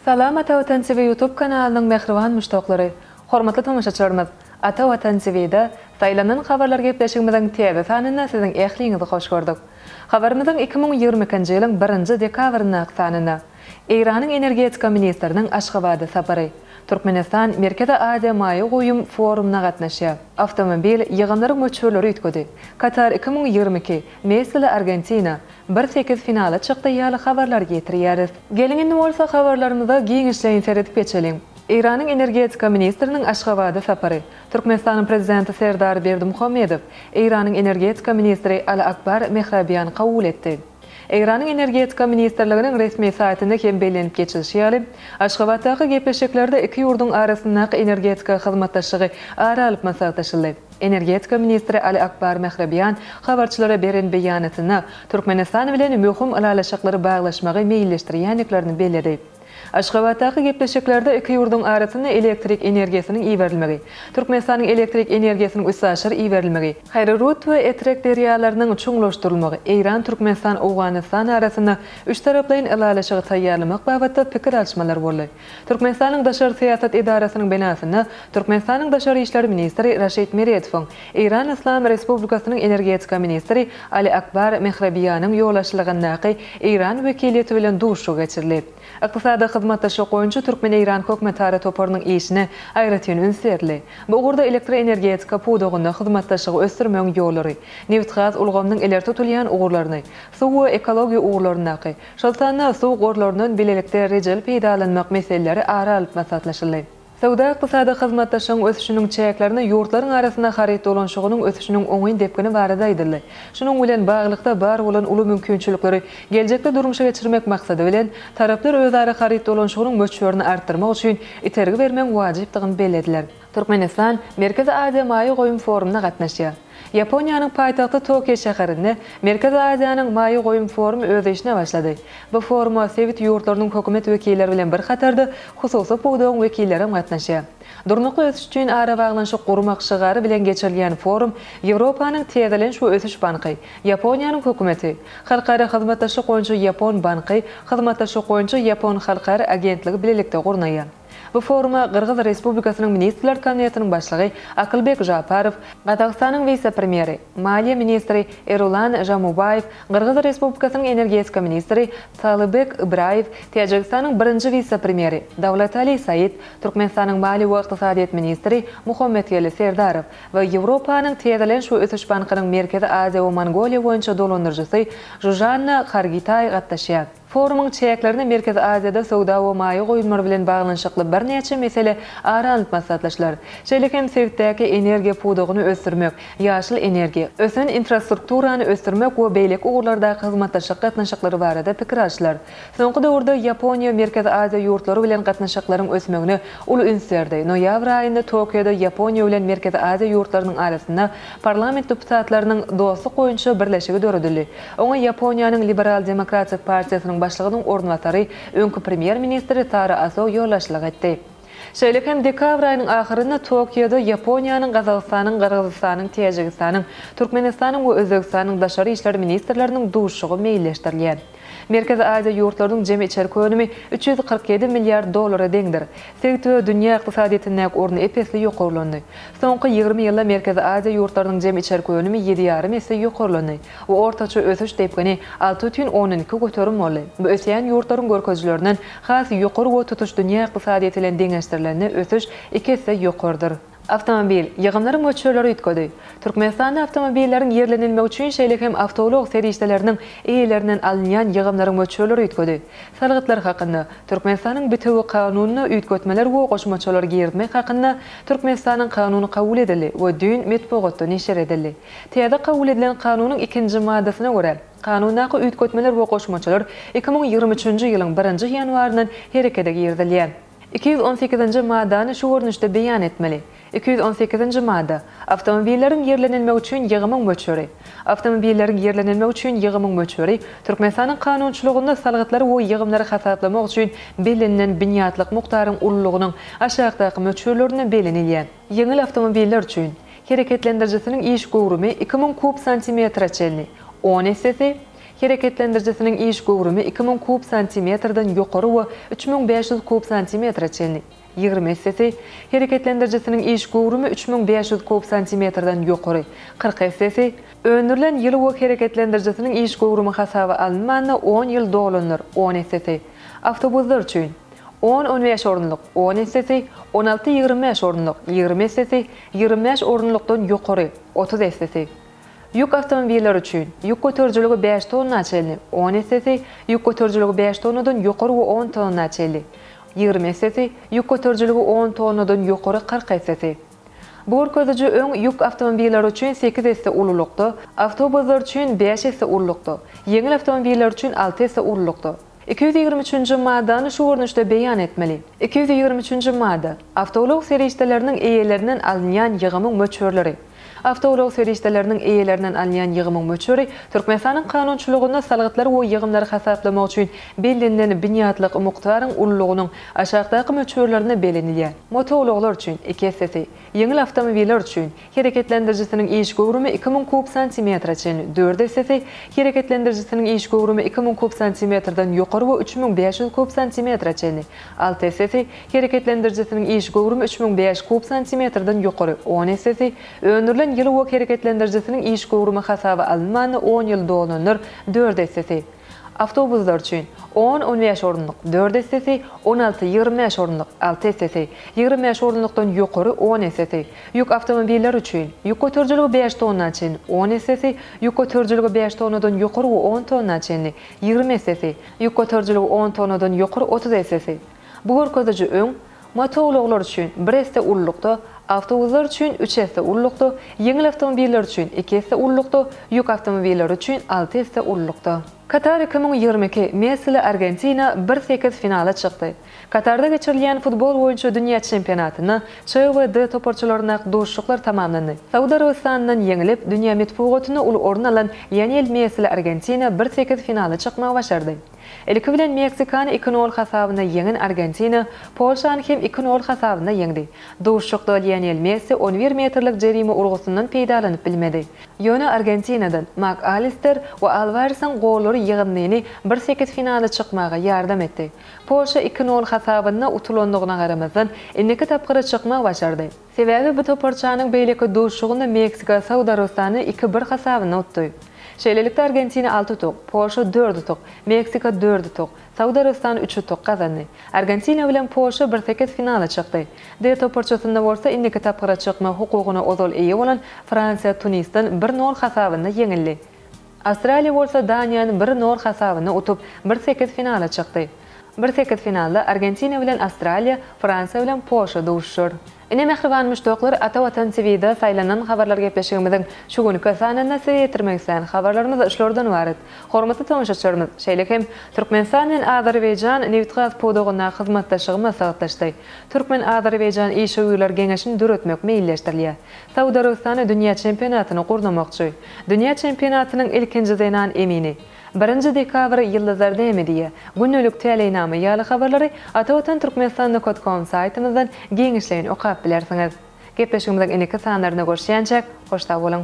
Salam Ata Watan TV YouTube kanalynyň mähriban muşdaklary! Hormatly tomaşaçylarymyz! Ata Watan TV-da Saýlanan habarlar gepleşigimiziň täze sanynda siziň ähliňizi hoş gördük. Habarymyzyň iki müň ýigrimi ikinji ýylyň birinji dekabryndaky sanynda Eýranyň energetika ministriniň Aşgabada sapary, Türkmenistan Merkezi Aziýa maýa goýum forumyna gatnaşýar, awtomobil ýygymlary möçberleri üýtgedi, Katar iki müň ýigrimi iki, Nestle Argentina, Bir sekiz finala çykdy ýaly habarlar getirýäris. Geliň indi bolsa habarlarymyza giňişleýin seredip geçeliň. Eýranyň energetika ministriniň Aşgabada sapary. Türkmenistanyň prezidenti Serdar Berdimuhamedow Eýranyň energetika ministri Ala Akbar Mehrabiýany kabul etdi. Eýranyň energetika ministrliginiň resmi saýtynda hem bellenip geçilişi ýaly, Aşgabatdaky gepleşiklerde iki ýurduň arasyndaky energetika hyzmatdaşlygy ara alyp maslahatlaşyldy. Energetika ministri Ali Akbar Mehrabian habarçylara beren beýanatynda Türkmenistan bilen möhüm ylalaşyklary baglaşmagy meýilleşdirýändiklerini belledi. Aşgabatdaky gepleşiklerde iki ýurduň arasynda elektrik energiýasynyň iberilmegi, Türkmenistanyň elektrik energiýasynyň üstaşyr iberilmegi, Haýrurut we Etrek derýalarynyň çuňlaşdyrylmagy, Eýran, Türkmenistan, Owganystan arasynda üçtaraplaýyn ylalaşygy taýýarlamak babatda pikir alşmalar boldy. Türkmenistanyň Daşary syýasat edarasynyň binasynda Türkmenistanyň daşary işler ministri Raşid Meredowyň, Eýran Yslam Respublikasynyň energetika ministri Ali Akbar Mehrebiýanyň ýolbaşçylygyndaky eýran wekiliýeti bilen duşuşygy geçirildi. Ykdysady hyzmatdaşlyk boýunça türkmen-eýran hökümetara toparynyň işine aýratyn üns berildi. Bu ugurda elektroenergetika pudagynda hyzmatdaşlygy ösdürmegiň ýollary, nebitgaz ulgamynyň ileri tutulýan ugurlaryny, suw we ekologiýa ugurlaryndaky, Şol sanda suw gorlaryndan bilelikde rejeli peýdalanmak meseleleri ara alyp maslahatlaşyldy. Söwda-ykdysady hyzmatdaşlygyň ösüşiniň çäklerinde ýurtlaryň arasynda haryt dolanşygynyň ösüşiniň oňyn depgini barada aýdyldy. Şunuň bilen baglylykda, bar bolan uly mümkinçilikleri geljekde durmuşa geçirmek maksady bilen, taraplar özara haryt dolanşygynyň möçberini artdyrmak üçin itergi bermegiň wajypdygyny bellediler. Türkmenistan Merkezi Aziýa maýa goýum forumyna gatnaşýar. Ýaponiýanyň paýtagty Tokio şäherinde Merkezi Aziýanyň maýa goýum forumy öz işine başlady. Bu foruma sebit ýurtlarynyň hökümet wekilleri bilen bir hatarda hususy pudagyň wekillerem gatnaşýar. Durnukly ösüş üçin arabaglanyşyk gurmak şygary bilen geçirilýän forum Ýewropanyň Täzelenç we ösüş banky, Ýaponiýanyň Hökümeti, Halkara hyzmatdaşlyk boýunça Ýapon banky, Hyzmatdaşlyk boýunça Ýapon halkara agentligi bilelikde gurnaýar. Bu foruma Gyrgyz Respublikasynyň Ministrler Kabinetiniň Başlygy Akylbek Žaparow, Gazagystanyň wise-premýeri, maliýe ministri Erulan Žamubaýew, Gyrgyz Respublikasynyň energetika ministri Talybek Ybraýew, Täjigistanyň birinji wise-premýeri Dawlatali Said, Türkmenistanyň maliýe we ykdysadyýet ministri Muhammetgeli Serdarow we Ýewropanyň Täzeleniş we ösüş bankynyň Merkezi Aziýa we Mongoliýa boýunça dolandyryjysy Žužanna Hargitaý gatnaşýar. Forumyň çäklerinde Merkezi Aziýada söwda we maýa goýumlary bilen baglanyşykly birnäçe mesele ara alnyp maslahatlaşylar. Şeýle hem sebitdäki energiýa pudagyny ösdürmek, ýaşyl energiýa, ösen infrastrukturany ösdürmek we beýleki ugurlardaky hyzmatdaşlyk gatnaşyklary barada pikir alşylar. Soňky döwürde Ýaponiýa Merkezi Aziýa ýurtlary bilen gatnaşyklaryň ösmegine uly üns berdi. Noýabr aýynda Tokioda Ýaponiýa bilen Merkezi Aziýa ýurtlarynyň arasynda Parlament deputatlarynyň Dostluk boýunça birleşigi döredildi. Oňa Ýaponiýanyň Liberal demokratik partiýasynyň başlygynyň orunbasary, öňki premýer-ministr Tara Aso ýolbaşçylyk etdi. Şeýle hem dekabr aýynyň ahyrynda Tokioda Ýaponiýanyň, Gazagystanyň, Gyrgyzystanyň, Täjigistanyň, Türkmenistanyň we Özbegistanyň daşary işler ministrleriniň duşuşygy meýilleşdirilýär. Merkezi Aziýa ýurtlarynyň jemi içerki önümi üç ýüz kyrk ýedi milliard dollara deňdir. Sebitde dünýä ykdysadyýetindäki orny ep-esli ýokarlandy. Soňky ýigrimi ýylda Merkezi Aziýa ýurtlarynyň jemi içerki önümi ýedi ýarym esse ýokarlandy we ortaça ösüş depgini alty bütin ondan iki göterim boldy. Bu ösýän ýurtlaryň görkezijilerinden has ýokary we tutuş dünýä ykdysadyýeti bilen deňeşdirilende ösüş iki esse ýokarydyr. Awtomobil, ýygymlaryň möçberleri üýtgedi. Türkmenistanda awtomobilleriň ýerlenilmegi üçin şeýle hem awtoulag serişdeleriniň eýelerinden alynýan ýygymlaryň möçberleri üýtgedi. Salgytlar hakynda, Türkmenistanyň bitewi Kanunyna üýtgetmeler we goşmaçalar girizmek hakynda Türkmenistanyň Kanuny kabul edildi we düýn metbugatda neşir edildi. Täze kabul edilen Kanunyň ikinji maddasyna görä, Kanundaky üýtgetmeler we goşmaçalar iki müň ýigrimi üçünji ýylyň birinji ýanwaryndan herekete girizilýär. Iki ýüz on sekizinji maddany şu görnüşde beýan etmeli, Iki ýüz on sekizinji madda. Awtomobilleriň ýerlenilmegi üçin ýygymyň möçberi. Awtomobilleriň ýerlenilmegi üçin ýygymyň möçberi Türkmenistanyň kanunçylygynda salgytlary we ýygymlary hasaplamak üçin bellenilen binýatlyk mukdaryň ululygynyň aşakdaky möçberlerinde bellenilýän. Ýeňil awtomobiller üçin, hereketlendirijisiniň iş göwrümi iki müň kub santimetre çenli, on essesi, Hereketlendirijisiniň iş göwrümi iki müň kub santimetrden ýokary we üç müň bäş ýüz kub santimetre çenli, ýigrimi essesi, hereketlendirijisiniň iş göwrümi üç müň bäş ýüz kub santimetrden ýokary, kyrk essesi, öndürilen ýyly we hereketlendirijisiniň iş göwrümi hasaba alynmanda on ýyl dolanlar, on essesi, awtobuslar üçin, on on bäş orunlyk, on essesi, on alty ýigrimi bäş orunlyk, ýigrimi essesi, ýigrimi bäş orunlykdan ýokary, otuz essesi. Ýük awtomobilleri üçin, ýük göterijiligi bäş tonna çenli, on essesi, ýük göterijiligi bäş tonnadan ýokary we on tonna çenli, ýigrimi essesi, ýük göterijiligi on tonnadan ýokary kyrk essesi. Bu görkeziji öň ýük awtomobilleri üçin sekiz esse ululykda, awtobuslar üçin bäş esse ululykda, ýeňil awtomobilleri üçin alty esse ululykda, Iki ýüz ýigrimi üçünji maddany şu görnüşde beýan etmeli, Iki ýüz ýigrimi üçünji madda. Awtoulag serişdeleriniň eýelerinden alynýan ýygymyň möçberleri Awtoulag serişdeleriniň eýelerinden alynýan ýygymyň möçberi Türkmenistanyň kanunçylygynda salgytlary we ýygymlary hasaplamak üçin bellenilen binýatlyk mukdaryň ululygynyň aşakdaky möçberlerinde belenilýär, motoulaglar üçin, iki essesi, ýeňil awtomobiller üçin, hereketlendirijisiniň iş göwrümi iki müň kub santimetre çen, dört essesi, hereketlendirijisiniň iş göwrümi iki müň kub santimetrden ýokary we üç müň bäş ýüz kub santimetre çen, alty essesi, hereketlendirijisiniň iş göwrümi üç müň bäş kub santimetrden ýokary, on essesi, öndürilen ýyly we hereketlendirijisiniň iş göwrümi hasaba alynmanda on ýyl dolananlar, dört essesi. Awtobuslar üçin, on-on bäş orunlyk, dört essesi, on alty-ýigrimi bäş orunlyk, alty essesi, ýigrimi bäş orunlykdan ýokary, on essesi, ýük awtomobilleri üçin, ýük göterijiligi bäş tonna çenli, on essesi, ýük göterijiligi bäş tonnadan ýokary we on tonna çenli, ýigrimi essesi, ýük göterijiligi on tonnadan ýokary, otuz essesi. Bu görkeziji öň motoulaglar üçin bir esse ululykda, awtobuslar üçin üç esse ululykda, ýeňil awtomobiller üçin iki esse ululykda, ýük awtomobilleri üçin alty esse ululykda. Katar iki müň ýigrimi iki, Messili Argentina bir sekiz finala çykdy. Katarda geçirilýän futbol boýunça dünýä çempionatynda Ç we D toparçalaryndaky duşuşyklar tamamlandy. Saud Arabystanyndan ýeňilip, dünýä metbugatynda uly orun alan Lionel Messili Argentina bir sekiz finala çykmagy başardy. Ilki bilen Meksikany iki nol hasabynda ýeňen Argentina Polşany hem iki nol hasabynda ýeňdi. Duşuşykda Lionel Messi on bir metrlik jerime urgusyndan peýdalanyp bilmedi. Ýöne Argentinadan Mak Alister we Alwaresiň gollary ýygyndyny bir sekiz finala çykmaga ýardam etdi. Polşa iki nol hasabynda utulandygyna garamazdan, indiki tapgyra çykmak başardy. Sebäbi bu toparçanyň beýleki duşuşygynda Meksika Saud Arabystany iki bir hasabynda utdy. Şeýlelikde, Argentina alty utuk, Polşa dört utuk, Meksika dört utuk, Saud Arabystany üç utuk gazandy. Argentina bilen Polşa birsekiz finala çykdy. D toparçasynda bolsa indiki tapgyra çykmak hukugyna ozal eýe bolan Fransiýa Tunisden bir nol hasabynda ýeňildi. Awstraliýa bolsa Daniýany bir nol hasabynda utup, bir sekiz finala çykdy. Bir sekiz finalda Argentina bilen Awstraliýa, Fransiýa bilen Polşa duşuşar. Ine mähriban muşdaklar Ata Watan TVda saýlanan habarlar gepleşigimiziň şu günki sanynda size ýetirmek islän habarlarymyz şulardan ybarat. Hormatly tomaşaçylarymyz, şeýle hem Türkmenistan bilen Azerbaýjan nebit-gaz pudagyndaky hyzmatdaşlygy maslahatlaşdy. Türkmen-azerbaýjan işewürler geňeşini döretmek meýilleşdirilýär. Saud Arabystany dünýä çempionatyny gurnamakçy. Dünýä çempionatynyň ilkinji zenan emini. Birinji dekabr Ýyldyzlar näme diýýär? Gündelik täleýnama ýaly habarlary Atavatan Türkmenistan Nokot Kom saýtymyzdan giňişleýin okap bilersiňiz. Gepleşigimiziň indiki sanlarynda görüşýänçäk, hoş sag boluň!